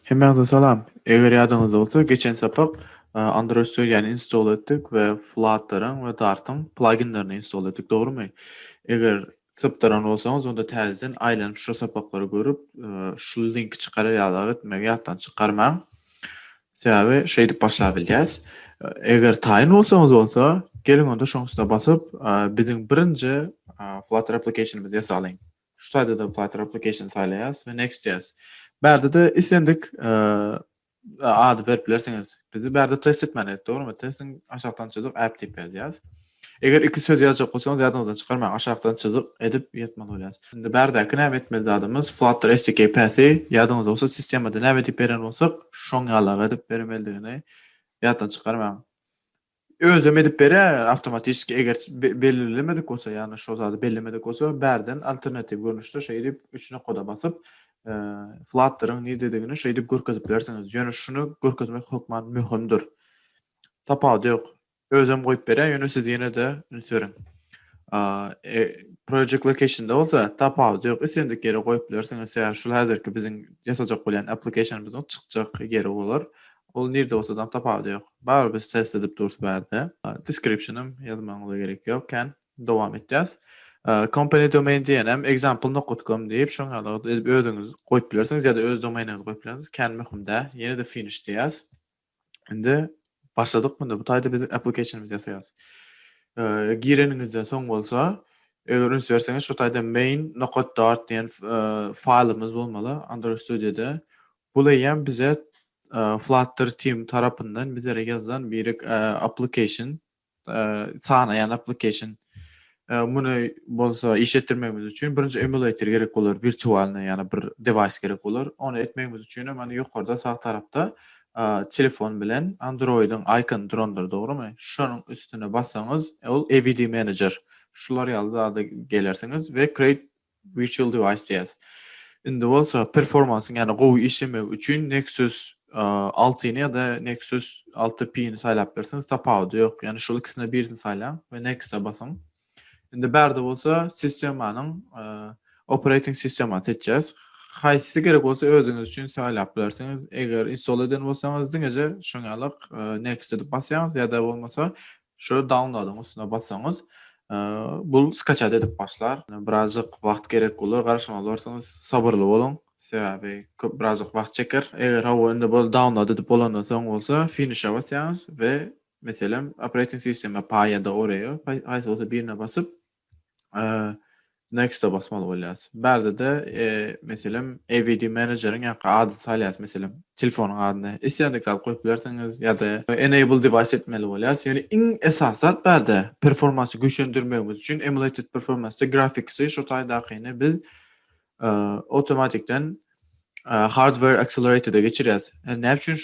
Hemmäňize salam. Eger ýadyňyzda bolsa, geçen sapak Android Studio-ny install etdik we Flutter-yň we Dart-yň pluginlerini install etdik, dogrumy? Eger Sypdyran bolsaňyz, onda täzeden aýlanyp şo sapaklary görüp, şul linki çykarar ýaly zat etmegi ýatdan çykarmaň. Sebäbi şeýdip başlap bilýäs. Eger taýyn bolsaňyz bolsa, geliň onda şoň üstüne basyp, biziň birinji Flutter application-ymyzy ýasalyň. Şu taýda-da Flutter application saýlaýas we next diýýäs. Bärde-de islendik ady berip bilersiňiz. Bizi bärde test etmän et, dogrumy? Testiň aşakdan çyzyk app diýip ýazýas. Eger iki söz ýazjak bolsaňyz ýadyňyzdan çykarmaň, aşakdan çyzyk edip ýatmaly bolýas. Indi bärdäki näme etmeli zadymyz Flutter SDK Path-y ýadyňyzda bolsa sistemada näme diýip beren bolsak şoň ýalagy edip bermelidigini ýatdan çykarmaň. Özem edip berýär ýaly awtomatiski eger bellemedik bolsa ýagny şol zady bellemedik bolsa bärden alternatiw görnüşde şeýdip üç nokada basyp flatteryň nidedigini şeýdip görkezip bilersiňiz ýöne şuny görkezmek hökman möhümdir tapawudy ýok özem goýup berýär ýöne siz ýene-de üns beriň e, project locationda bolsa tapawudy ýok islendik ýere goýup bilersiňiz şul häzirki biziň ýasajak bolýan applicationymyzyň çykjak ýeri bolar Ol nirde bolsadam tapawudy ýok. Barybir biz test edip durus bärde. Descriptionam ýazmagyňyza gerek ýok kän. Dowam etýäs. Company domain diýenem example nokat com diýip şoň ýaly edip özüňiz goýup bilersiňiz ýa-da öz domainiňizi goýup bilersiňiz. Kän möhüm dä. Ýene-de finish diýýäs. Indi başladyk munda. Bu taýda biz applicationymyzy ýasaýas. Gireniňizden soň bolsa eger üns berseňiz şu taýda main nokat dart diýen faýlymyz bolmaly Android Studioda. Bul eýýäm bize Flutter team tarapyndan bizlere ýazylan birek application, sanaýan application. Muny bolsa iş etdirmegimiz üçin birinji emulator gerek bolar, wirtualnyý ýa-da bir dewaýs gerek bolar. Ony etmegimiz üçin hem hany ýokarda sag tarapda telefon bilen Android-iň icon durandyr, dogrymy? Şonuň üstüne bassaňyz, ol AVD manager. Şular ýaly zada gelersiňiz we create Virtual Device diýýäs. Indi bolsa performansyň ýa-da gowy işlemegi üçin Nexus altyny ýa-da Nexus alty P-ni saýlap bilersiňiz, tapawudy ýok. Ýagny şol ikisinden birisini saýlaň we Next-a basyň. Indi bärde bolsa sistemanyň operating sistemany seçýäs. Haýsy gerek bolsa özüňiz üçin saýlap bilersiňiz. Eger install eden bolsaňyz diňeje şoňalyk Next edip basýaňyz ýa-da bolmasa Şu downloadyň üstüne bassaňyz bu skaçat edip başlar. Birazjyk wagt gerek bolar garaşmaly bolarsyňyz sabyrly boluň sebäbi köp birazjyk wagt çeker. Eger hawa indi boldy download edip bolandan soň bolsa finişe basýaňyz we meselem operating system paýada oraya haýsy bolsa birine basyp Next-a basmaly bolýas. Bärde-de, meselem, AVD menejeriň ýa ady salýas, meselem, telefonyň adyny. Islendik zat goýup bilersiňiz ýa-da enable device etmeli bolýas. Ýöne iň esasy zat bärde performansy güýçlendirmegimiz üçin emulated performance grafiksi şu taýdakyny biz awtomatikden hardware accelerated-e geçirýäs. Näme üçin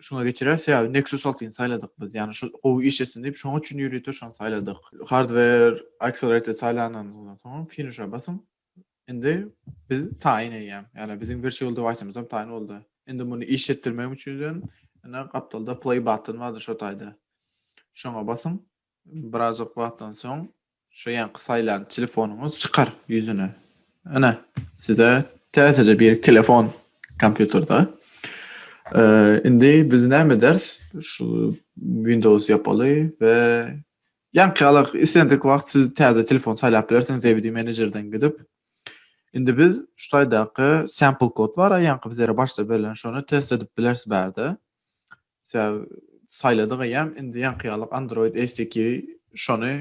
şuňa geçirer. Sebäbi Nexus 6-ny saýladyk biz. Ýagny şu gowy iş etsin diýip, şoň üçin ýörite şony saýladyk. Hardware Accelerated saýlanandygyňyzdan soň Finish-e basyň. Indi biz taýyn eýýäm. Ýagny biziň Virtual Device-ymyz hem taýyn boldy. Indi muny iş etdirmegim üçin hem ine gapdalda Play button bardyr şo taýda. Şoňa basyň. Birazajyk wagtdan soň şu ýaňky saýlan telefonyňyz çykar ýüzüne. Ine, size täzeje bir telefon kompýuterde. Indi biz näme eders? Şu Windows ýapaly we ýaňky ýaly islendik wagt siz täze telefon saýlap bilersiňiz DVD menejerden gidip. Indi biz şu taýdaky sample kod bar, ýaňky bizlere başda berlen şony test edip bileris bärde. Sebäbi saýladyk eýýäm indi ýaňky ýalyk Android SDK şony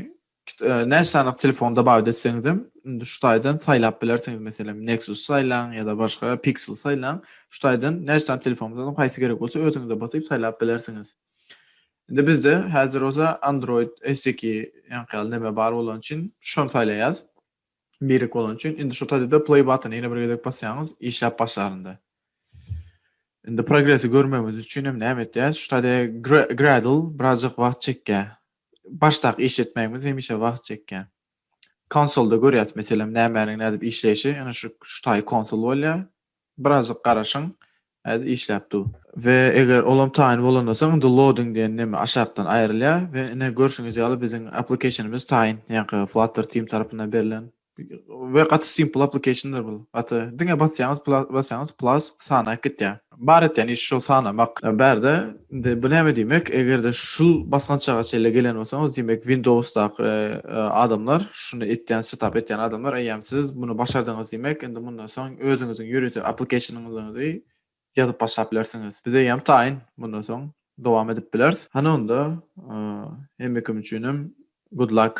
näçe sanyk telefonda bar etseňizem indi şu taýdan saýlap bilersiňiz meselem Nexus saýlaň ýa-da başga Pixel saýlaň şu taýdan näçe sany telefonda haýsy gerek bolsa özüňize basyp saýlap bilersiňiz. Indi bizde häzir bolsa Android SDK ýaňky ýaly näme bar bolany üçin şony saýlaýas. Birek bolany üçin indi şu taýda-da play button ýene bir gezek basýaňyz işläp başlarynda. Indi progresi görmegimiz üçin hem näme etýäs? Şu taýda Gradle birazjyk wagt çekýär. Başdak işletmegimiz hemişe wagt çekýär. Konsolda görýäs meselem nämäniň nädip işleýşi, ýöne şu şu taý konsol bolýar. Birazjyk garaşyň häzir işläp dur. We eger olam taýyn bolanda soň indi loading diýen neme aşakdan aýrylýar we ine görşüňiz ýaly biziň applicationymyz taýyn ýaňky flutter team tarapyndan berlen we gaty simple applicationdyr bul gaty diňe basýaňyz basýaňyz plus sanaýyp gitýär. Bar etýän işi şol sanamak bärde. Indi bu näme diýmek? Eger-de şul basgançaga çenli gelen bolsaňyz, diýmek Windowsdaky adamlar, şuny etýän, setap etýän adamlar, eýýäm siz muny başardyňyz diýmek. Indi mundan soň özüňiziň ýörite application-yňyzy ýazyp başlap bilersiňiz. Biz eýýäm taýyn mundan soň dowam edip bileris. Hany onda hemme kim üçinem good luck!